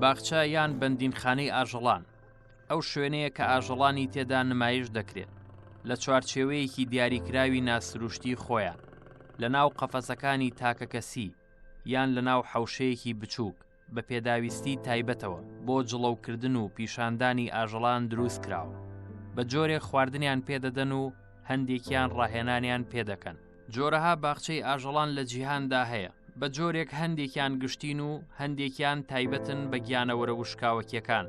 باخچە یان بەندینخانەی ئاژەڵان ئەو شوێنەیە کە ئاژەڵانی تێدا نمایش دەکرێت لە چوارچێوەیەکی دیاریکراوی ناسروشتی خۆیان لە ناو قەفەسەکانی تاکە کەسی یان لە ناو حەوشەیەکی بچووک بە پێداویستی تایبەتەوە بۆ جڵەوکردن و پیشاندانی ئاژەڵان دروست کراوە بە جۆرێک خواردنیان پێدەدەن و هەندێکیان ڕاهێنانیان پێدەکەن جۆرەها باخچەی ئاژەڵان لە جیهاندا هەیە بە جۆرێک هەندێکیان گشتین و هەندێکیان تایبەتن بە گیانەوەرە وشکاوەکیەکان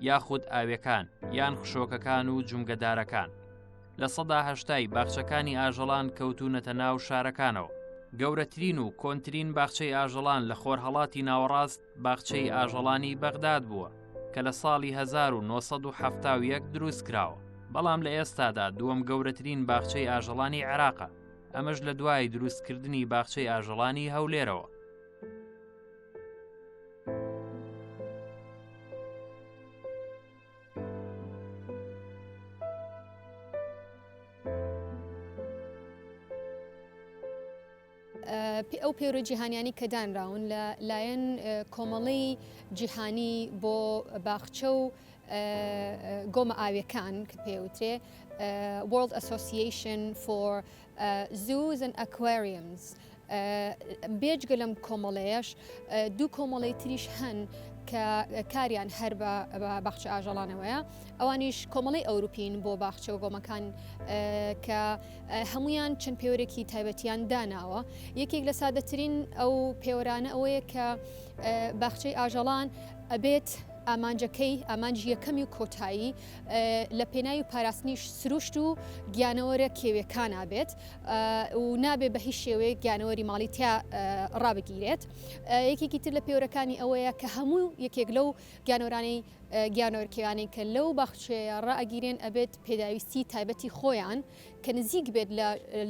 یاخود ئاوێکان یان خشۆکەکان و جومگەدارەکان لە سەدا هەشتای باخچەکانی ئاژەڵان کەوتونەتە ناو شارەکانەوە گەورەترین و کۆنترین باخچەی ئاژەڵان لە خۆرهڵاتی ناوەڕاست باخچەی ئاژەڵانی بەغداد بووە کە لە ساڵی 1970 دروست کراوە بەڵام لە ئێستادا دووەم گەورەترین باخچەی ئاژەڵانی عێراقە ئەمەش لە دوای دروستکردنی باخچەی ئاژەڵانی هەولێرەوە ئەو پەیڕووی جیهانیانی کە دانراون لە لایەن کۆمەڵی جیهانی بۆ باخچە و گۆمە ئاوێکان کە پێوترێ World Association for Zoos and Aquariums بێجگە لەم کۆمەڵەیەش دوو کۆمەڵی تریش هەن کە کاریان هەر بە باخچە ئاژەڵانەوەیە ئەوانیش کۆمەڵی ئەوروپین بۆ باخچە و گۆمەکان کە هەموویان چەند پێوەرێکی تایبەتیان داناوە یەکێک لە سادەترین ئەو پێوەرانە ئەوەیە کە باخچەی ئاژەڵان ئەبێت ئامانجەکەی ئامانجی یەکەمی و کۆتایی لە پێناوی پاراستنیش سروشت و گیانەوەرە کێوێکان نابێت و نابێت بە هیچ شێوەیە گیانەوەری ماڵی تیا ڕابگیرێت یەکێکی تر لە پێورەکانی ئەوەیە کە هەموو یەکێک لەو گیانۆرانی گیانۆرکیانی کە لەو باخچەیە ڕائگیرێن ئەبێت پێداویستی تایبەتی خۆیان کە نزیک بێت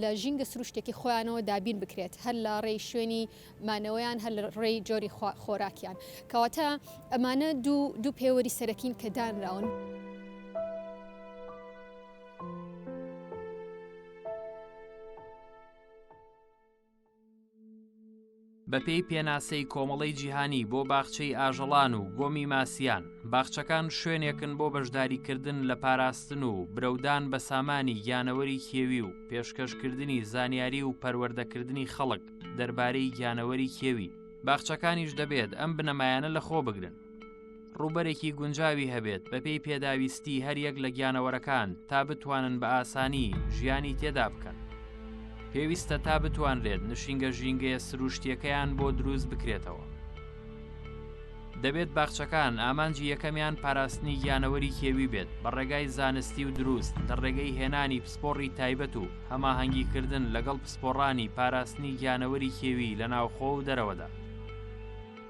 لە ژینگە سروشتێکی خۆیانەوە دابین بکرێت هەر لە ڕێی شوێنی مانەوەیان هەر ڕێی جۆری خۆراکیان کەواتە ئەمانە دوو دوو پێوەری سەرەکین کە دانراون. بەپێی پێناسەی کۆمەڵەی جیهانی بۆ باخچەی ئاژەڵان و گۆمی ماسیان باخچەکان شوێنێکن بۆ بەشداریکردن لە پاراستن و برەودان بە سامانی گیانەوەری کێوی و پێشکەشکردنی زانیاری و پەروەردەکردنی خەڵک دەربارەی گیانەوەری کێوی باخچەکانیش دەبێت ئەم بنەمایانە لەخۆ بگرن ڕووبەرێکی گونجاوی هەبێت بەپێی پێداویستی هەریەک لە گیانەوەرەکان تا بتوانن بە ئاسانی ژیانی تێدا بکەن. پێویستە تا بتوانرێت نشینگە ژینگەیە سروشتیەکەیان بۆ دروست بکرێتەوە. دەبێت باخچەکان ئامانجی یەکەمیان پاراستنی گیانەوەری کێوی بێت بە ڕێگای زانستی و دروست لە ڕێگەی هێنانی پسپۆڕی تایبەت و هەماهەنگیکردن لەگەڵ پسپۆڕانی پاراستنی گیانەوەری کێوی لە ناوخۆ و دەرەوەدا.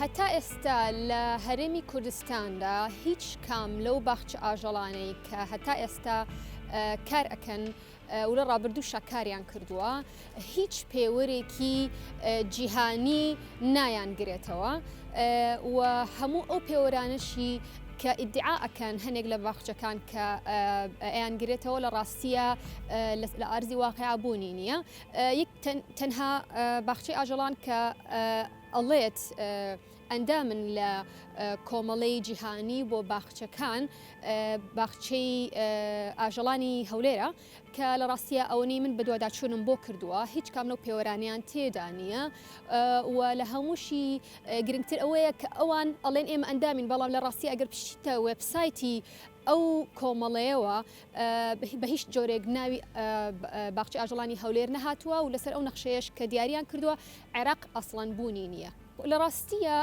هەتا ئێستا لە هەرێمی کوردستاندا هیچ کام لەو باخچە ئاژەڵانەی کە هەتا ئێستا کار ئەکەن و لە ڕابردوو شاکاریان کردووە هیچ پێوەرێکی جیهانی نایان گرێتەوە و هەموو ئەو پێوەرانشی کە ئیدعا ئەکەن هەنێک لە باخچەکان کە ئەیان گرێتەوە لە ڕاستیە لە ئارزی واقعبوونی نییە یەک تەنها باخچەی ئاژەڵان کە ئەڵێت ئەندامن لە کۆمەڵەی جیهانی بۆ باخچەکان باخچەی ئاژەڵانی هەولێرە کە لە ڕاستیە ئەوەی من بەدوواداچوونم بۆ کردووە هیچ کامنە و پێوەرانیان تێدا نییە و لە هەمووشی گرنگتر ئەوەیە کە ئەوان ئەڵێن ئێمە ئەندامین بەڵام لە ڕاستی ئەگەر پشتە وبسایتی ئەو کۆمەڵەیەوە بە هیچ جۆرێک ناوی باخچی ئاژەڵانی هەولێر نەهاتووە و لەسەر ئەو نەخشەیەش کە دیاریان کردووە عێراق ئەسڵەن بوونی نییە. لە ڕاستیە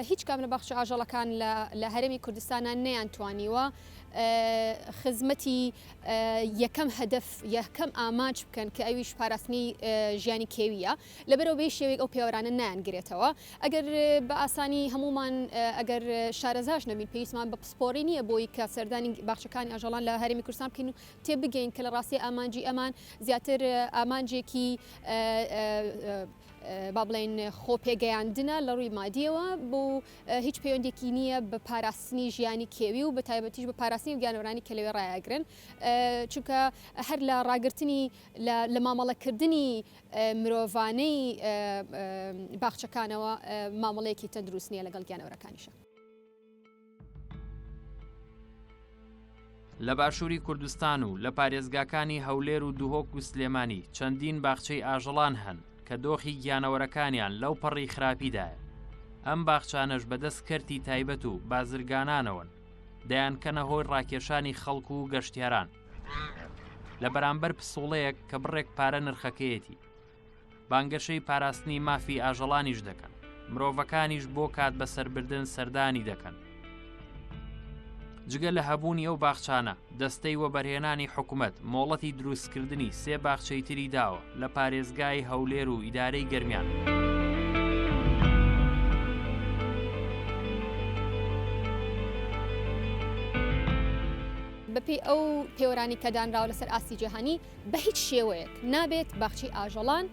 هیچ کام لە باخچە ئاژەڵەکان لە هەرێمی کوردستانە نەیان توانیوە خزمەتی یەکەم هەدەف یەکەم ئامانج بکەن کە ئەویش پاراستنی ژیانی کێویە. لەبەرئەوە بەهیچ شێوەیەک ئەو پێوەرانە نایانگرێتەوە. ئەگەر بە ئاسانی هەموومان ئەگەر شارەزاش نەبین پێویستمان بە پسپۆڕی نییە بۆی کە سەردانی باخچەکانی ئاژەڵان لە هەرێمی کوردستان بکەین و تێبگەین کە لە ڕاستیا ئامانجی ئەمان زیاتر ئامانجێکی با بڵێین خۆپێگەیاندنە لە ڕووی مادییەوە و هیچ پەیوەندێکی نییە بە پاراستنی ژیانی کێوی و بەتایبەتیش بە پاراستنی ئەو گیانەوەرانەی کە لەوێ ڕایئەگرن چونکە هەر لە ڕاگرتنی لە مامەڵەکردنی مرۆڤانەی باخچەکانەوە مامەڵەیەکی تەندروست نییە لەگەڵ گیانەوەرەکانیشا. لە باشووری کوردستان و لە پارێزگاکانی هەولێر و دهۆک و سلێمانی چەندین باخچەی ئاژەڵان هەن کە دۆخی گیانەوەرەکانیان لەو پەڕی خراپیدایە ئەم باخچانەش بەدەست کەرتی تایبەت و بازرگانانەوەن دەیانکەنە هۆی ڕاکێشانی خەڵکو و گەشتیاران لە بەرامبەر پسوڵەیەک کە بڕێک پارە نرخەکەیەتی بانگەشەی پاراستنی مافی ئاژەڵانیش دەکەن مرۆڤەکانیش بۆ کات بە سربردن سەردانی دەکەن جگە لە هەبوونی ئەو باخچانە دەستەی وەبەرهێنانی حکوومەت مۆڵەتی دروستکردنی سێ باخچەی تری داوە لە پارێزگای هەولێر و ئیدارەی گەرمیان. بەپێی ئەو پێوەرانەی کە دانراوە لەسەر ئاستی جیهانی بە هیچ شێوەیەک نابێت باخچی ئاژەڵان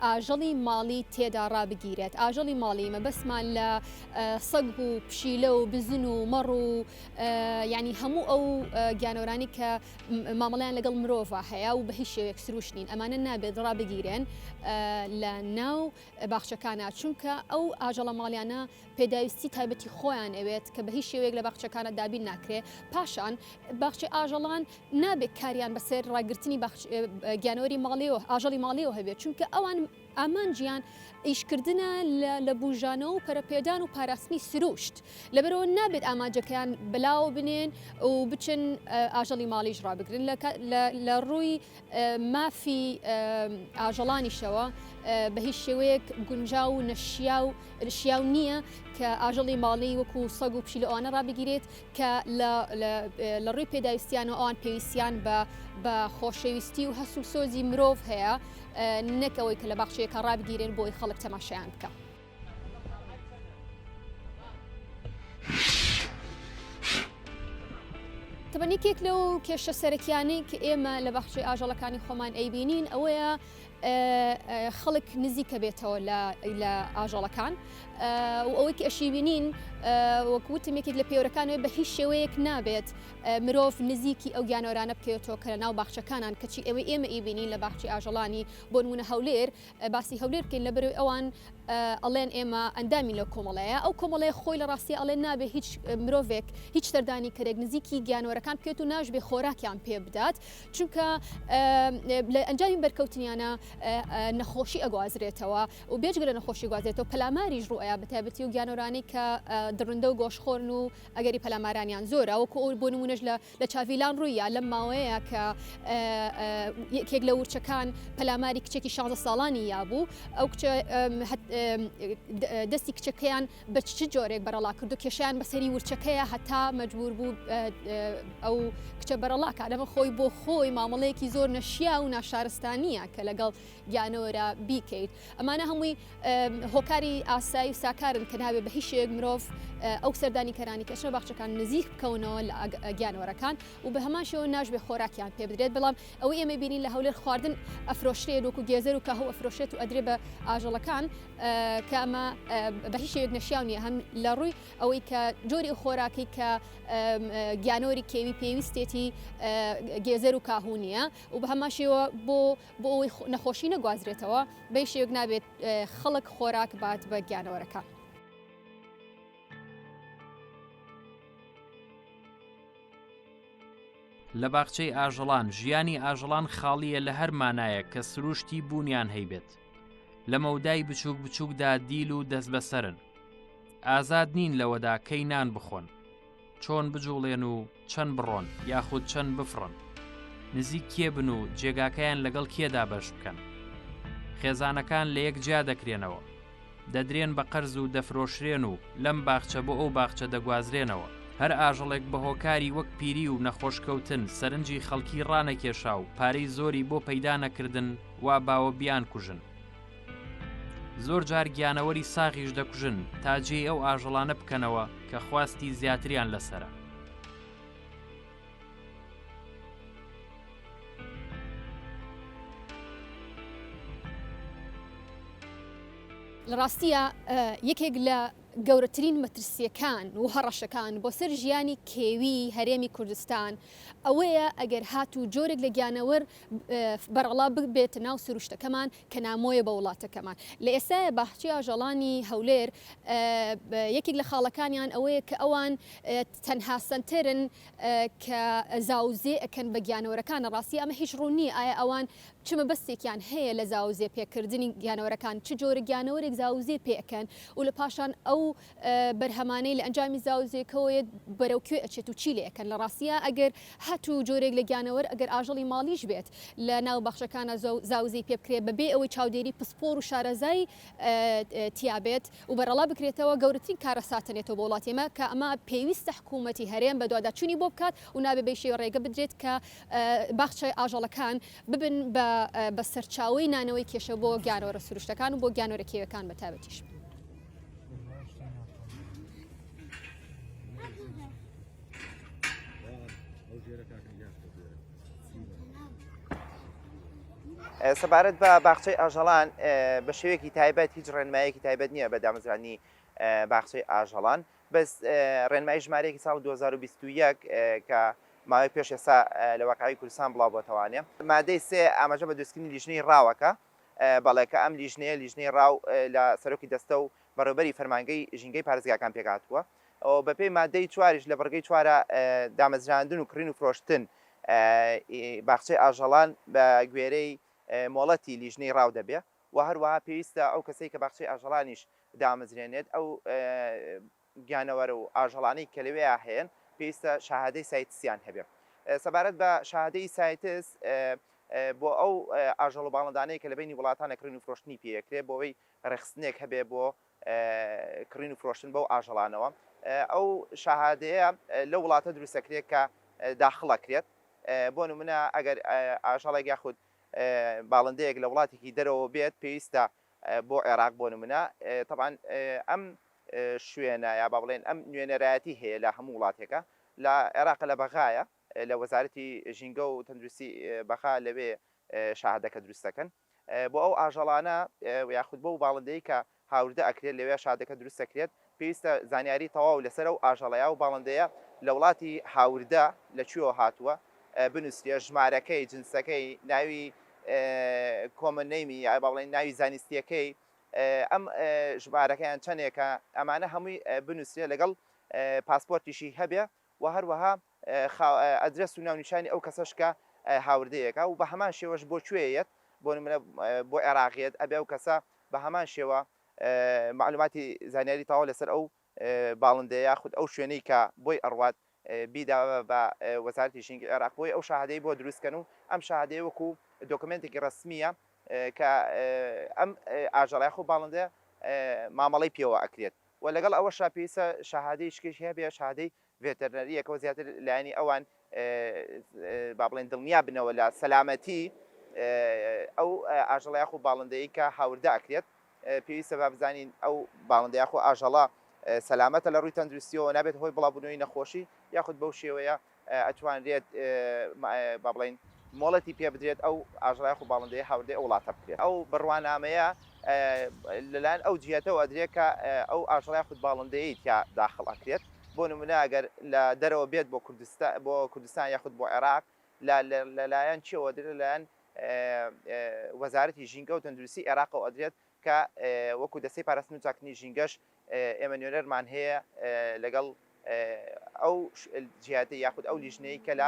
ئاژەڵی ماڵی تێدا ڕابگیرێت ئاژەڵی ماڵی مەبەسمان لە سەگ و پشیلە و بزن و مەڕ و ینی هەموو ئەو گیانۆرانی کە مامەڵیان لەگەڵ مرۆڤ هەیە و بە هیچ شێوێک سروش نین ئەمانە نابێت ڕابگیرێن لە ناو باخچەکانە چونکە ئەو ئاژەڵە ماڵیانە پێداویستی تایبەتی خۆیان ئەوێت کە بە هیچ شێوەیەک لە باخچەکانە دابین ناکرێ پاشان باخچەی ئاژەڵان نابێت کاریان بەسەر ڕاگررتنی گیانەوەری ماڵیەوە ئاژەڵی ماڵیەوە هەبێت چونکە ئەوان ئامانجیان ئیشکردە لە بژانەوە و پەرپێدان و پاراستنی سروشت لەبەرەوە نابێت ئاماجەکەیان بەلاوە بنێن و بچن ئاژەڵی ماڵیش ڕابگرن لە ڕووی مافی ئاژەڵانیشەوە بە هیچ شێوەیەک گونجاو و نەشیاو شیاو نییە کە ئاژەڵی ماڵی وەکو سەگ و پشیلە ئەوانە ڕابگیرێت کە لە ڕووی پێداویستیان و ئەوان پێویستیان بە خۆشەویستی و هەست و سۆزی مرۆڤ هەیە نەک ئەوەی کە لە باخچەیەکە ڕابگیرێن بۆی خەڵک تەماشایان بکە. تەبەن یەکێک لەو کێشە سەرەکیانەی کە ئێمە لە بەخشی ئاژەڵەکانی خۆمان ئەیبینین ئەوەیە خەڵک نزیکە بێتەوە لە ئاژەڵەکان و ئەوەی ئەشیبینین وەکوتم یەکێک لە پێورەکانێ بە هیچ شێوەیەک نابێت مرۆڤ نزیکی ئەو گیانۆرانە بکەوێتەوە کە لە ناو باخچەکانان کەچی ئەوەی ئێمە ئیبینین لە باخچی ئاژەڵانی بۆنمونە هەولێر باسی هەولێر بکەین لەبەرەوەی ئەوان ئەڵێن ئێمە ئەندامی لەو کۆمەڵەیە ئەو کۆمەڵەیە خۆی لە ڕاستیە ئەڵێن نابێ هیچ مرۆڤێک هیچ سەردانی کەرێک نزیکی گیانۆرەکان بکێت و ناشبێ خۆراکیان پێ بدات چونکە لە ئەنجامی بەرکەوتنیانە نەخۆشی ئەگوازرێتەوە و بێجگە لە نەخۆشی گوازێتەوە پەلاماریش ڕوئەیە بەتابەتی و گیانۆرانی کە دڕندە و گۆشخۆرن و ئەگەری پەلامارانیان زۆرە وەکو ئەو بۆ نمونەش لە لە چاڤیلان ڕوویە لەم ماوەیە کە یەکێک لە ورچەکان پەلاماری کچێکی شانزە ساڵانی یابوو ئەو کچە دەستی کچەکەیان بە چ جۆرێک بەرەڵا کردو کێشیان بەسەری ورچەکەیە هەتا مەجبور بوو ئەو کچە بەرەڵاکە لەمە خۆی بۆ خۆی مامەڵەیەکی زۆر نەشیا و ناشارستانیە کە لەگەڵ گیانەوەرە بیکەیت. ئەمانە هەمووی هۆکاری ئاسایی و ساکارن کە نابێ بە هیچ شێک مرۆڤ ئەو سەردانیکەرانی کە چنە باخچەکان نزیک بکەونەوە لە گیانەوەرەکان و بە هەمان شێوە ناشبێ خۆراکیان پێ بدرێت بەڵام ئەوەی ئێمە بینین لە هەولێر خواردن ئەفرۆشرێت وەکو گێزەر و کاهو ئەفرۆشێت و ئەدرێ بە ئاژەڵەکان کە ئەمە بە هیچ شێوێک نەشیاو نیە هەم لە ڕووی ئەوەی کە جۆری خۆراکی کە گیانۆری کێوی پێویستێتی گێزەر و کاهو نیە و بە هەمان شێوە بۆ بۆ ئەوەی نەخۆشی نەگوازرێتەوە بەی شێوک نابێت خەڵک خۆراک بات بە گیانەوەرەکان. لە باخچەی ئاژەڵان ژیانی ئاژەڵان خاڵیە لە هەر مانایەک کە سروشتی بوونیان هەیبێت لە مەودای بچووک بچووکدا دیل و دەست بەسەرن ئازاد نین لەوەدا کەی نان بخۆن چۆن بجوڵێن و چەند بڕۆن یاخود چەند بفڕن نزیک کێ بن و جێگاکەیان لەگەڵ کێدا بەش بکەن خێزانەکان لە یەک جیا دەکرێنەوە دەدرێن بە قەرز و دەفرۆشرێن و لەم باخچە بۆ ئەو باخچە دەگوازرێنەوە هەر ئاژەڵێک بە هۆکاری وەک پیری و نەخۆشکەوتن سەرنجی خەڵکی ڕانەکێشا و پارەی زۆری بۆ پەیدا نەکردن وا باوە بیان کوژن زۆر جار گیانەوەری ساغیش دەکوژن تا جێی ئەو ئاژەڵانە بکەنەوە کە خواستی زیاتریان لەسرە. لە ڕاستیە یەکێک لە گەورەترین مەترسیەکان و هەڕەشەکان بۆ سەر ژیانی کێوی هەرێمی کوردستان ئەوەیە ئەگەر هات و جۆرێک لە گیانەوەر بەرەڵا ببێت ناو سروشتەکەمان کە نامۆیە بە وڵاتەکەمان. لە ئێستایا باخچەی ئاژەڵانی هەولێر یەکێک لە خاڵەکانیان ئەوەیە کە ئەوان تەنها سەنتەرن کە زاوزێ ئەکەن بە گیانەوەرەکان، لە ڕاستی ئەمە هیچ ڕوون نییە ئایا ئەوان چ مەبەستێکیان هەیە لە زاوزێ پێکردنی گیانەوەرەکان، چ جۆرە گیانەوەرێک زاوزێ پێ ئەکەن و لە پاشان ئەو بەرهەمانەی لە ئەنجامی زاوزێکەوە یەت بەرەو کوێ ئەچێت و چی لێ ئەکەن لە ڕاستیا ئەگەر هەت و جۆرێک لە گیانەوەر ئەگەر ئاژەڵی ماڵیش بێت لە ناو باخچەکانا زاوزێی پێ بکرێت بە بێ ئەوەی چاودێری پسپۆر و شارەزای تیا بێت و بەرەڵا بکرێتەوە گەورەترین کارەساتە نێتەوە بۆ وڵاتی ئێمە کە ئەمە پێویستە حکوومەتی هەرێم بە دوادا چوونی بۆ بکات و نابێ بەی شێوە ڕێگە بدرێت کە باخچەی ئاژەڵەکان ببن بە بە سەرچاوەی نانەوەی کێشە بۆ گیانەوەرە سروشتەکان و بۆ گیانەوەرە کێوێکان بە تایبەتیش. سەبارەت بە باخچەی ئاژەڵان بە شێوێکی تایبەت هیچ ڕێنمایەکی تایبەت نییە بە دامەزرانی باخچەی ئاژەڵان بەس ڕێنمای ژمارەیەکی ساڵ 2021 کە ماوەی پێش ئێستا لە وەقعی کوردستان بڵاو بۆتەوانێ مادەی سێ ئاماژە بە دروستکردنی لیژنەی ڕاوەکە بەڵێ کە ئەم لیژنەیە، لیژنەی ڕاو لە سەرۆکی دەستە و بەڕێوبەری فەرمانگەی ژینگەی پارێزگاکان پێکهاتووە و بەپێی ماددەی چواریش لە بڕگەی چوارە دامەزراندن و کڕین و فرۆشتن ی باخچەی ئاژەڵان بە گوێرەی مۆڵەتی لیژنەی ڕاو دەبێ و هەروەها پێویستە ئەو کەسەی کە باخچەی ئاژەڵانیش دامەزرێنێت ئەو گیانەوەرە و ئاژەڵانەی کە لەوێیا هەیەن پێویستە شاهادەی سایتسیان هەبێ سەبارەت بە شاهادەی سایتس بۆ ئەو ئاژەڵ و باڵندانەیە کە لە بەینی وڵاتانە کڕین و فرۆشتنی پێ ئەکرێ بۆوەی ڕێکخستنێک هەبێ بۆ کڕین و فرۆشتن بەو ئاژەڵانەوە ئەو شاهادەیە لەو وڵاتە دروست ئەکرێ کە داخڵ ئەکرێت بۆ نمونە ئەگەر ئاژەڵێک یاخود باڵندەیەک لە وڵاتێکی دەرەوە بێت پێویستە بۆ عێراق بۆ نمونە طبعا ئەم شوێنە یا با بڵێن ئەم نوێنەرایەتی هەیە لە هەموو وڵاتێکە لە عێراقە لە بەغایە لە وەزارەتی ژینگە و تەندروستی بەغا لەوێ شاهدەکە دروست دەکەن بۆ ئەو ئاژەڵانە یاخود بەو باڵندەی کە هاوردە ئەکرێت لەوێ شادەکە دروست دەکرێت پێویستە زانیاری تەواو لەسەر ئەو ئاژەڵەیە و باڵندەیە لە وڵاتی هاوردە لە کوێوە هاتووە بنووسرێ ژمارەکەی جنسەکەی ناوی کۆمن نەیمی یا با بڵێن ناوی زانستیەکەی ئەم ژمارەکەیان چەنێکە ئەمانە هەمووی بنوسرێ لەگەڵ پاسپۆرتیشی هەبێ و هەروەها ئەدرەس و ناونیشانی ئەو کەسەش کە هاوردەیەکە و بە هەمان شێوەش بۆ کوێ یەت بۆ نمونە بۆ عێراق یەت ئەبێ ئەو کەسە بە هەمان شێوە معلوماتی زانیاری تەواو لەسەر ئەو باڵندەیە یاخود ئەو شوێنەی کە بۆی ئەڕوات بیدا بە وەزارەتی ژینگەی عێراق بۆی ئەو شاهادەی بۆ دروست کەن و ئەم شاهادەیە وەکو دۆکۆمێنتێکی ڕەسمیە کە ئەم ئاژەڵە یاخود باڵندەیە مامەڵەی پێوە ئەکرێت و لەگەڵ ئەوەشا پێویستە شاهادەی شکێکی هەبێ شاهادەی ڤێتەرنەرییەکەوە زیاتر لایەنی ئەوان با بڵێین دڵنیا بنەوە لە سەلامەتیی ئەو ئاژەڵە یاخود باڵندەیەی کە هاوردە ئەکرێت. پێویستە با بزانین ئەو باڵندە یاخود ئاژەڵە سەلامەتە لە ڕووی تەندروستییەوە، نابێتە هۆی بڵاوبوونەوەی نەخۆشی یاخود بەو شێوەیە ئەتوانرێت با بڵێین مۆڵەتی پێ بدرێت ئەو ئاژەڵە یاخود باڵندەیە هاوردەی ئەو وڵاتە بکرێت. ئەو بڕوانامەیە لەلایەن ئەو جیهەتەوە ئەدرێت کە ئەو ئاژەڵە یاخود باڵندەیەی تیا داخڵ ئەکرێت. بۆ نمونە ئەگەر لە دەرەوە بێت بۆ کوردستان بۆ کوردستان یاخود بۆ عێراق لە لە لایەن چیەوە ئەدرێت لە لایەن وەزارەتی ژینگە و تەندروستی عێراقەوە ئەدرێت کە وەکو دەستەی پاراستن و چاککردنی ژینگەش ئێمە نوێنەرمان هەیە لەگەڵ ئەو جیاتی یاخود ئەو لیژنەی کە لە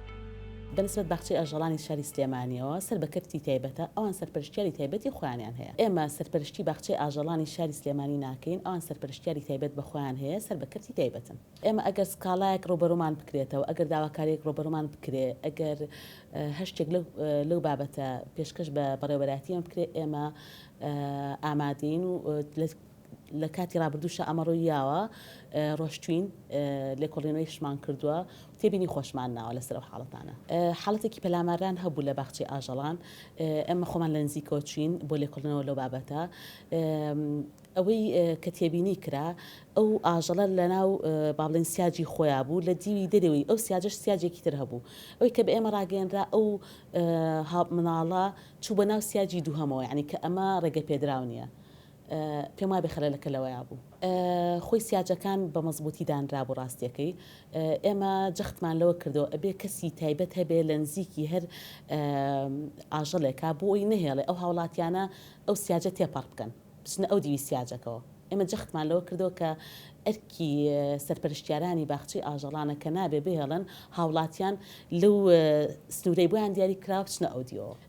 بەنسبەت باخچەی ئاژەڵانی شاری سلێمانییەوە سەر بە کەرتی تایبەتە، ئەوان سەرپەرشتیاری تایبەتی خۆیانیان هەیە. ئێمە سەرپەرشتی باخچەی ئاژەڵانی شاری سلێمانی ناکەین، ئەوان سەرپەرشتیاری تایبەت بە خۆیان هەیە، سەر بە کەرتی تایبەتن. ئێمە ئەگەر سکاڵایەک ڕووبەڕوومان بکرێتەوە، ئەگەر داواکارییەک ڕووبەڕوومان بکرێ، ئەگەر هەر شتێک لەو بابەتە پێشکەش بە بەڕێوەبەرایەتی ئێمە بکرێ، ئێمە ئامادەین و لە. لە کاتی ڕابردووشا ئەمە ڕووی یاوە، ڕۆشتووین، لێکۆڵینەوەیشمان کردووە و تێبینی خۆشمان ناوە لەسەر ئەو حاڵەتانە. حاڵەتێکی پەلامارران هەبوو لە باخچەی ئاژەڵان، ئێمە خۆمان لە نزیکەوە چووین بۆ لێکۆڵینەوە لەو بابەتە. ئەوەی کە تێبینی کرا، ئەو ئاژەڵە لەناو با بڵێین سیاجی خۆیان بوو، لە دیوی دەرەوەی ئەو سیاجەش سیاجێکی تر هەبوو. ئەوەی کە بە ئێمە ڕاگەیەنرا، ئەو منداڵە چوو بە ناو سیاجی دووهەمەوە، یانی کە ئەمە ڕێگەپێدراو نییە. پێم وابێ خەلەلەکە لەوەیا بوو خۆی سیاجەکان بە مەزبووتی دانرابوو راستیەکەی ئێمە جەختمان لەوە کردەوە ئەبێ کەسی تایبەت هەبێ لە نزیکی هەر ئاژەڵێکا بۆ ئەوی نەهێڵێ ئەو هاوڵاتیانە ئەو سیاجە تێپەڕ بکەن بچنە ئەو دیوی سیاجەکەوە ئێمە جەختمان لەوە کردەوە کە ئەرکی سەرپەرشتیارانی باخچەی ئاژەڵانە کە نابێ بهێڵن هاوڵاتیان لەو سنوورەی بۆیان دیاری کراوە بچنە ئەو دیوەوە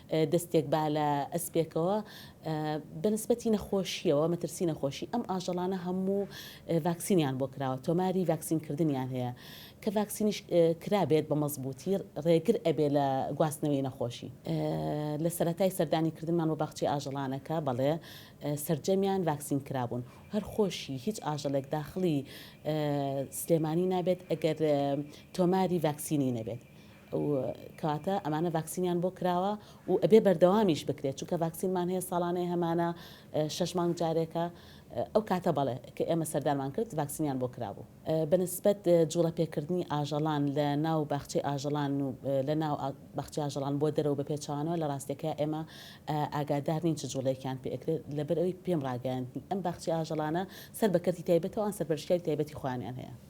دەستێک با لە ئەسپێکەوە بە نسبەتی نەخۆشییەوە مەترسی نەخۆشی ئەم ئاژەڵانە هەموو ڤاکسینیان بۆ کراوە تۆماری ڤاکسین کردنیان هەیە کە ڤاکسینیش کرابێت بە مەزبووتی ڕێگر ئەبێ لە گواستنەوەی نەخۆشی لە سەتای سەردانی کردنمان بۆ باخچی ئاژەڵانەکە بەڵێ سرجەمیان ڤاکسین کرابوون هەر خۆشی هیچ ئاژەڵێک داخلی سلێمانی نابێت ئەگەر تۆماری ڤاکسینی نەبێت ئەو کاتە ئەمانە ڤاکسینیان بۆ کراوە و ئەبێ بەردەوامیش بکرێت چونکە ڤاکسینمان هەیە ساڵانەیە هەمانە شەش مانگ جارێکە ئەو کاتە بەڵێ کە ئێمە سەردانمان کرد ڤاکسینیان بۆ کرابوو بە نسبەت جوڵە پێکردنی ئاژەڵان لە ناو باخچەی ئاژەڵان و لە ناو باخچەی ئاژەڵان بۆ دەرەوە بە پێچەوانەوە لە ڕاستێکە ئێمە ئاگادار نین چ جوڵەیەکیان پێ ئەکرێت لەبەر ئەوی پێم ڕاگەیاندنی ئەم باخچەی ئاژەڵانە سەر بە کەرتی تایبەتەوە ئەن سەرپەرشتیاری تایبەتی خۆیانیان هەیە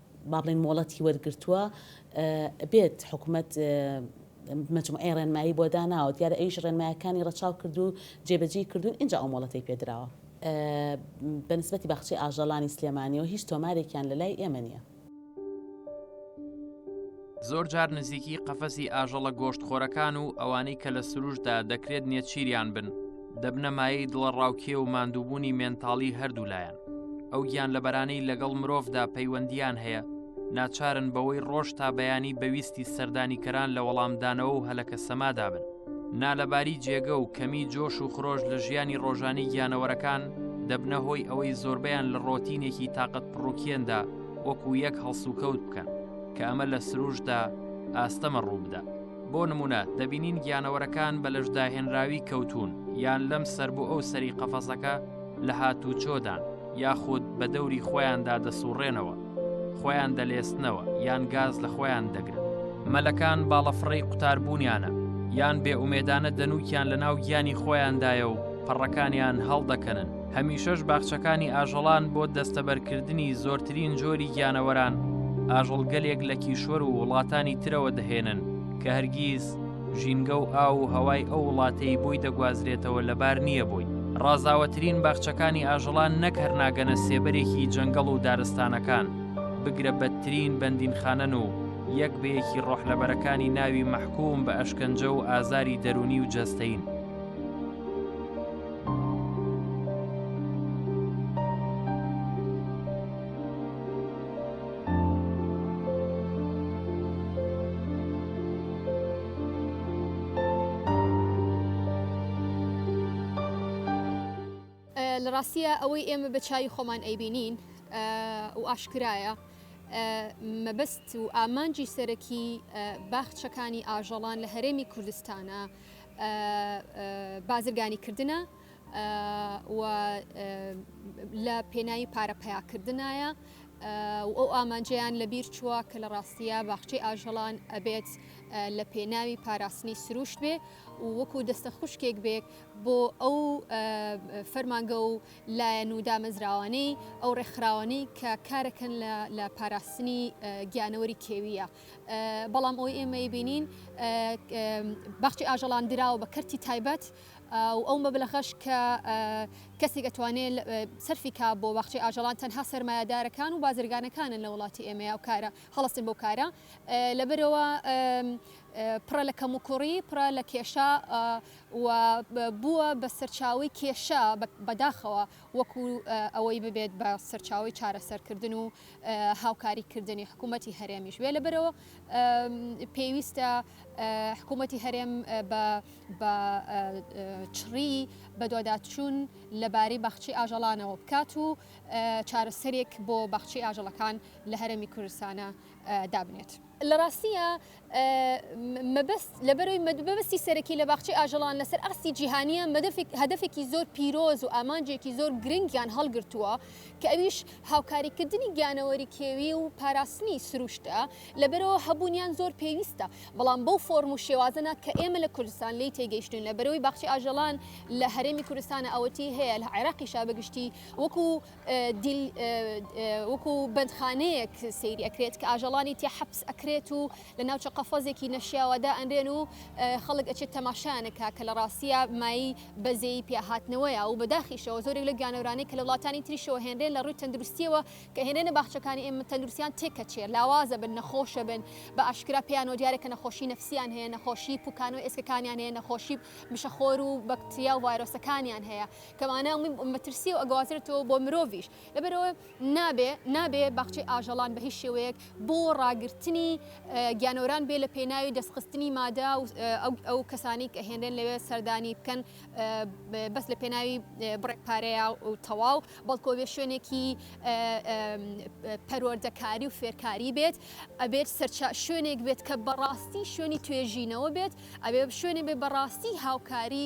با بڵێین مۆڵەتی وەرگرتووە بێت حکومەت مجموعەی ڕێنمایی بۆ داناوە دیارە ئەویش ڕێنمایەکانی ڕەچاو کردو جێبەجێی کردوون ئینجا ئەو مۆڵەتی پێدراوە بەنسبەتی باخچەی ئاژەڵانی سلێمانیەوە هیچ تۆمارێکیان لەلای ئێمە نیە. زۆر جار نزیکی قەفەسی ئاژەڵە گۆشتخۆرەکان و ئەوانەی کە لە سروشدا دەکرێت نێچیریان بن دەبنە مایەی دڵە ڕاوکێ و ماندووبوونی مێنتاڵی هەردوولایەن ئەو گیان لە بەرانەی لەگەڵ مرۆڤدا پەیوەندیان هەیە ناچارن بەوەی ڕۆژ تا بەیانی بەویستی سەردانیکەران لە وەڵامدانەوە و هەلەکە سەمادا بن نالەباری جێگە و کەمی جۆش و خرۆش لە ژیانی ڕۆژانی گیانەوەرەکان دەبنە هۆی ئەوەی زۆربیان لە ڕۆتینێکی تااقەت پڕوکێندا وەکو یەک هەڵسوکەوت بکەن کە ئەمە لە سروشدا ئاستەمە ڕووبدا بۆ نمونە دەبینین گیانەوەرەکان بە لەشداهێنراوی کەوتون یان لەم سەر بۆ ئەو سەری قەفەسەکە لە هاتوو چۆدان یاخود بە دەوری خۆیاندا دەسوڕێنەوە خۆیان دەلێستنەوە یان گاز لە خۆیان دەگرن مەلەکان باڵەفڕی قوتاربوونیانە یان بێ ئومێدانە دەنوکیان لە ناو گیانی خۆیاندایە و پەڕەکانیان هەڵدەکەنن هەمیشەش باخچەکانی ئاژەڵان بۆ دەستەبەرکردنی زۆرترین جۆری گیانەوەران ئاژەڵگەلێک لە کیشوەر و وڵاتانی ترەوە دەهێنن کە هەرگیز ژینگە و ئاو و هەوای ئەو وڵاتەی بۆی دەگوازرێتەوە لەبار نییە بۆی ڕازاوەترین باخچەکانی ئاژەڵان نەک هەرناگەنە سێبەرێکی جەنگەڵ و دارستانەکان بگرە بەدترین بەندینخانەن و یەک بەیەکی ڕۆحلەبەرەکانی ناوی مەحکوم بە ئەشکەنجە و ئازاری دەرونی و جەستەین. لە ڕاستیە ئەوەی ئێمە بە چای خۆمان ئەیبینین و ئاشکرایە مەبەست و ئامانجی سەرەکی باخچەکانی ئاژەڵان لە هەرێمی کوردستانە بازرگانی کردنە و لە پێناوی پارە پیاکردنایە و ئەو ئامانجیان لە بیر چووە کە لە ڕاستیە باخچەی ئاژەڵان ئەبێت لە پێناوی پاراستنی سروشت بێ وەکو دەستە خوشکێک بێت بۆ ئەو فەرمانگە و لایەن و دامەزراوانەی ئەو ڕێکخراوانی کە کارەکەن لە پاراستنی گیانەوەری کێویە. بەڵام ئەوەی ئێمە ئەیبینین باخچەی ئاژەڵان دراوە بە کەرتی تایبەت و ئەو مەبلەغەش کە کەسێک ئەتوانێت سەرفی کا بۆ باخچەی ئاژەڵان تەنها سەرمایەدارەکان و بازرگانەکانن لە وڵاتی ئێمەیە و کارە هەڵستن بۆ کارە لەبەرەوە پڕە لە کەم و کوڕی پڕە لە کێشە و بووە بە سەرچاوی کێشە بەداخەوە وەکو ئەوەی ببێت بە سەرچاوەی چارەسەرکردن و هاوکاری کردنی حکوومەتی هەرێمیش وێ لەبەرەوە پێویستە حکوومەتی هەرێم بە چڕی بەدواداچوون لەبارەی باخچی ئاژەڵانەوە بکات و چارەسەرێک بۆ باخچی ئاژەڵەکان لە هەرێمی کوردستانە دابنێت. لە ڕاستیە مەبەست لەبەرەوەی مەبەستی سەرەکی لە باخچەی ئاژەڵان لەسەر ئاستی جیهانییە مەدەفێک هەدەفێکی زۆر پیرۆز و ئامانجێکی زۆر گرنگیان هەڵگرتووە کە ئەویش هاوکاریکردنی گیانەوەری کێوی و پاراستنی سروشتە لەبەرەوە هەبوونیان زۆر پێویستە بەڵام بەو فۆرم و شێوازە نا کە ئێمە لە کوردستان لێی تێگەیشتووین لەبەرەوەی باخچەی ئاژەڵان لە هەرێمی کوردستانە ئەوەتی هەیە لە عێراقیشا بەگشتی وەکو دیل وەکو بەندخانەیەک سەیری ئەکرێت کە ئاژەڵانی تیا حەپس ئەکرێت و لە ناوچە قەفەزێکی نەشیاوە دائەنرێن و خەڵک ئەچێت تەماشایان ئەکا کە لە ڕاستییا مایەی بەزەیی پیاهاتنەوەیە و بەداخیشەوە زۆرێک لەو گیانەورانەی کە لە وڵاتانی تریشەوە هێنرێن لە ڕووی تەندروستییەوە کە هێنرێنە باخچەکانی ئێمە تەندروستییان تێکەچێ لاوازە بن نەخۆشە بن بە ئاشکرا پێیانەوە دیارە کە نەخۆشی نەفسییان هەیە نەخۆشی پوکانەوەی ئێسکەکانیان هەیە نەخۆشی مشەخۆر و بەکتریا و ڤایرۆسەکانیان هەیە کەوانە ئەمەی مەترسیەو ئەگەوازرێتەوە بۆ مرۆڤیش لەبەرەوە نابێ نابێ باخچەی ئاژەڵان بە هیچ شێوەیەک بۆ ڕاگرتنی گیانەوران بێ لە پێناوی دەستخستنی مادە و ئەو کەسانی کە هێنرێن لەوێ سەردانی بکەن بەس لە پێناوی بڕێک پارەیە و تەواو بەڵکۆ بێ شوێنێکی پەروەردەکاری و فێرکاری بێت ئەبێت سەرچا شوێنێک بێت کە بەڕاستی شوێنی توێژینەوە بێت ئەبێ شوێنێ بێ بەڕاستی هاوکاری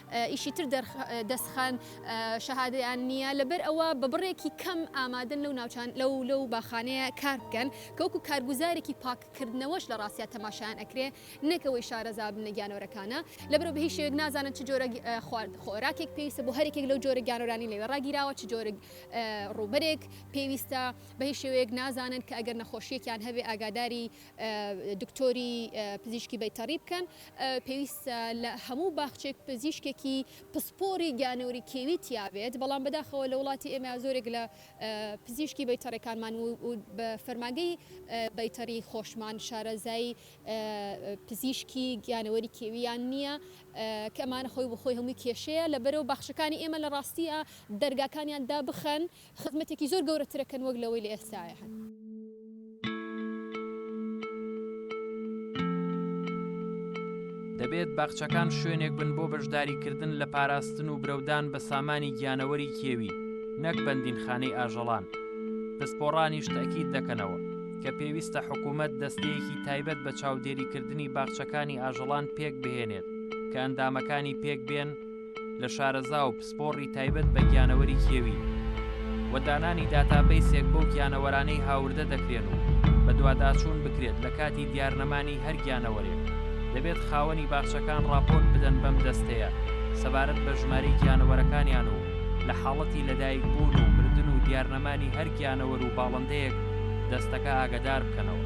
ئیشی تر دەسخەن شەهادەیان نیە لەبەر ئەوە بە بڕێکی کەم ئامادەن لەو ناوچان لەو لەو باخانەیە کار بکەن کە وەکو کارگوزارێکی پاک کردنەوەش لە ڕاستیا تەماشایان ئەکرێ نەک ئەوەی شارەزا ببنە گیانۆرەکانە لەبەرو بە هیچ شێوەیەک نازانن چ جۆرە خوارد خۆراکێک پێویستە بۆ هەر یەکێک لەو جۆرە گیانۆرانی لەوێ ڕاگیراوە چ جۆرە ڕووبەرێک پێویستە بە هیچ شێوەیەک نازانن کە ئەگەر نەخۆشیەکیان هەبێ ئاگاداری دکتۆری پزیشکی بەیتەڕی بکەن، پێویستە لە هەموو باخچەیەک پزیشکێکی پسپۆری گیانەوەری کێوی تیا بێت، بەڵام بەداخەوە لە وڵاتی ئێمە زۆرێک لە پزیشکی بەیتەڕەکانمان و بە فەرمانگەی بەیتەڕی خۆشمان شارەزای پزیشکی گیانەوەری کێوییان نییە کە ئەمانە خۆی بە خۆی هەمووی کێشەیە لە بەرەو باخچەکانی ئێمە لە ڕاستییا دەرگاکانیان دابخەن خزمەتێکی زۆر گەورەترەکەن وەک لەوەی لە ئێستاە هەن. دەبێت باخچەکان شوێنێک بن بۆ بەشداریکردن لە پاراستن و برەودان بە سامانی گیانەوەری کێوی نەک بەندینخانەی ئاژەڵان. پسپۆڕانیش تەکید دەکەنەوە کە پێویستە حکوومەت دەستەیەکی تایبەت بە چاودێریکردنی باخچەکانی ئاژەڵان پێک بهێنێت کە ئەندامەکانی پێک بێن لە شارەزا و پسپۆڕی تایبەت بە گیانەوەری کێوی و دانانی داتابەیسێک بەو گیانەوەرانەی هاوردە دەکرێن و بەدواداچوون بکرێت لە کاتی دیارنەمانی هەر گیانەوەرێک دەبێت خاوەنی باخچەکان ڕاپۆرت بدەن بەم دەستەیە سەبارەت بە ژمارەی گیانەوەرەکانیان و لە حاڵەتی لەدایک بوون و مردن و دیارنەمانی هەر گیانەوەر و باڵندەیەک دەستەکە ئاگدار بکەنەوە.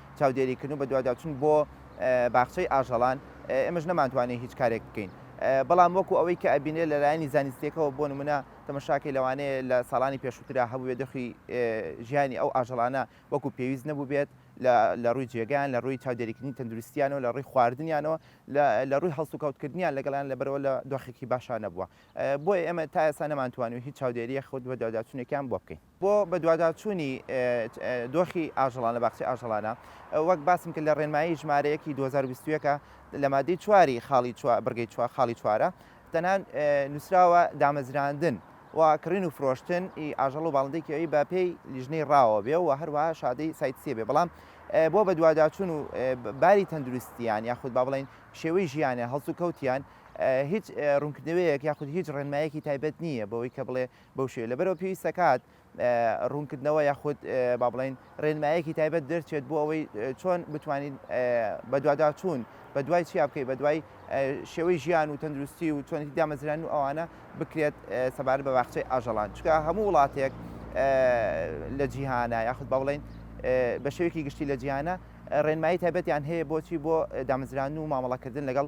چاودێریکردن و بەدواداچوون بۆ باخچەی ئاژەڵان، ئێمەش نەمانتوانێت هیچ کارێک بکەین. بەڵام وەکو ئەوەی کە ئەبینرێت لە لایەنی زانستییەکەوە بۆ نموونە تەمەشاکەی لەوانەیە لە ساڵانی پێشووترا هەبووبێت دۆخی ژیانی ئەو ئاژەڵانە وەکو پێویست نەبووبێت لە ڕووی جێگەیان، لە ڕووی چاودێریکردنی تەندروستییانەوە، لە ڕووی خواردنیانەوە، لە ڕووی هەڵسوکەوتکردنیان لەگەڵیان لەبەرئەوە لە دۆخێکی باشا نەبووە. بۆیە ئێمە تا ئێستا نەمانتوانیوە هیچ چاودێرییەک و بەدواداچوونێکیان بۆ بکەین. بۆ بەدواداچوونی دۆخی ئاژەڵان لە باخچەی ئاژەڵانە، وەک باسم کرد لە ڕێنمایی ژمارە یەکی دوو هەزار و بیست و یەک لە مادەی چواری خاڵی چوار بڕگەی چوار خاڵی چوارە تەنها نووسراوە دامەزراندن و کڕین و فرۆشتن ئی ئاژەڵ و باڵندەی کێوی بە پێی لیژنەی ڕاوە بێ و هەروەها شادەی سایت سێ بێ بەڵام بۆ بەدواداچوون و باری تەندروستیان یاخود با بڵین شێوەی ژیانە هەڵسو کەوتیان هیچ ڕوونکردنەوەیەک یاخود هیچ ڕێنمایەکی تایبەت نییە بەوەی کە بڵێ بەو شێوەیە لەبەرئەوە پێویست دەکات ڕوونکردنەوە یاخود با بڵین ڕێنمایەکی تایبەت دەرچێت بۆ ئەوەی چۆن بتوانین بەدواداچوون بە دوای چیا بکەیت بە دوای شێوەی ژیان و تەندروستی و چۆنی دامەزران و ئەوانە بکرێت سەبار بە باخچەی ئاژەڵان چکە هەموو وڵاتێک لە جیهانە یاخود با بڵین بە شێوێکی گشتی لە جیانە ڕێنمایی تایبەتیان هەیە بۆچی بۆ دامزران و مامەڵەکردن لەگەڵ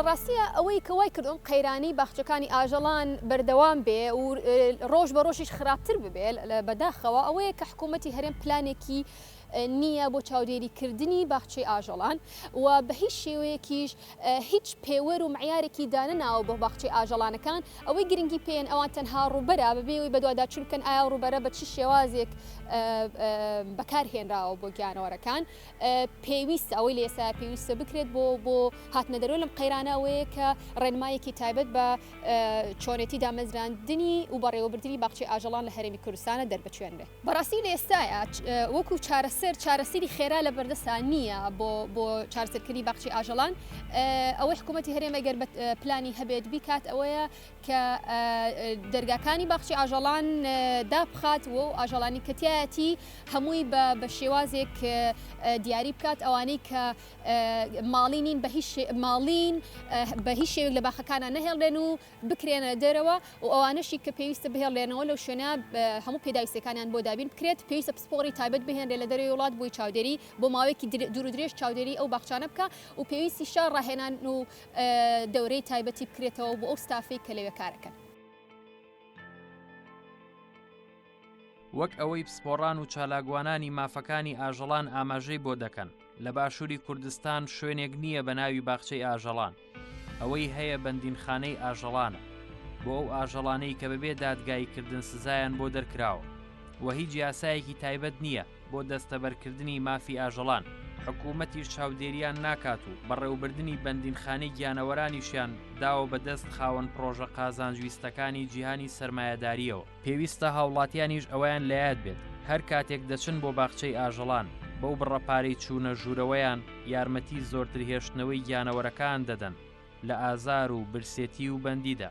لە ڕاستیە ئەوەی کە وای کردم قەیرانی باخچەکانی ئاژەڵان بەردەوام بێ و ڕۆژ بە ڕۆژیش خراپتر ببێت بەداخەوە ئەوەیە کە حکوومەتتی هەرێم پلانێکی نییە بۆ چاودێری کردنی باخچەی ئاژەڵان و بە هیچ شێوەیەکیش هیچ پێوەر و معیارێکی دانەناوە بۆ باخچەی ئاژەڵانەکان ئەوەی گرنگی پێیەن ئەوان تەنها ڕووبەرە بەبێ ئەوەی بەدواداچوون بکەن ئایا ئەو ڕووبەرە بە چ شێوازێک بەکار هێنراوە بۆ گیانەوەرەکان پێویستە ئەوەی لە ئێستا پێویستە بکرێت بۆ بۆ هاتنە دەرۆ لەم قەیرانە ئەوەیە کە ڕێنمایەکی تایبەت بە چۆنێتی دامەزراندنی و بەڕێوەبردنی باخچەی ئاژەڵان لە هەرێمی کوردستانە دەربچوێنرێت. بەڕاستی لە ئێستایا وەکو چارەسەر چارەسەری خێرا لە بەردەستا نییە بۆ بۆ چارسەرکردنی باخچی ئاژەڵان ئەوەی حکوومەتتی هەرێمە گەر بە پلانی هەبێت بیکات ئەوەیە کە دەرگاکانی باخچی ئاژەڵان دابخات و ئاژەڵانی کەتیایەتی هەمووی بە بە شێوازێک دیاری بکات ئەوانەی کە ماڵی نین بە هیچ ماڵین بە هیچ شێوێک لە باخەکانە نەهێڵێن و بکرێنە دەرەوە و ئەوانەشی کە پێویستە بهێڵرێنەوە لەو شوێنە هەموو پێداویستیەکانیان بۆ دابین بکرێت، پێویستە پسپۆڕی تایبەت بهێنرێت لە دەرەوەی وڵات بۆی چاودێری بۆ ماوەیەکی دوورودرێژ چاودێری ئەو باخچانە بکا و پێویستیشە ڕاهێنان و دەورەی تایبەتی بکرێتەوە بۆ ئەو ستافەی کە لەوێ کارەکەن. وەک ئەوەی پسپۆڕان و چالاکوانانی مافەکانی ئاژەڵان ئاماژەی بۆ دەکەن لە باشووری کوردستان شوێنێک نییە بە ناوی باخچەی ئاژەڵان ئەوەی هەیە بەندینخانەی ئاژەڵانە بۆ ئەو ئاژەڵانەی کە بەبێ دادگایی کردن سزایان بۆ دەرکراوە و هیچ یاسایەکی تایبەت نییە بۆ دەستەبەرکردنی مافی ئاژەڵان حکوومەتی چاودێریان ناکات و بەڕێوبردننی بەندینخانی گیانەوەرانیشیان داوە بەدەست خاوەن پرۆژە قازانجویستەکانی جیهانی سرمایهداریەوە. پێویستە هاوڵاتیانیش ئەوەیان لەیاد بێت هەر کاتێک دەچن بۆ باخچەی ئاژەڵان بەو بڕە پارەی چوونە ژوورەوەیان یارمەتی زۆرتر هێشتنەوەی گیانەوەرەکان دەدەن لە ئازار و برسێتی و بەندیدا.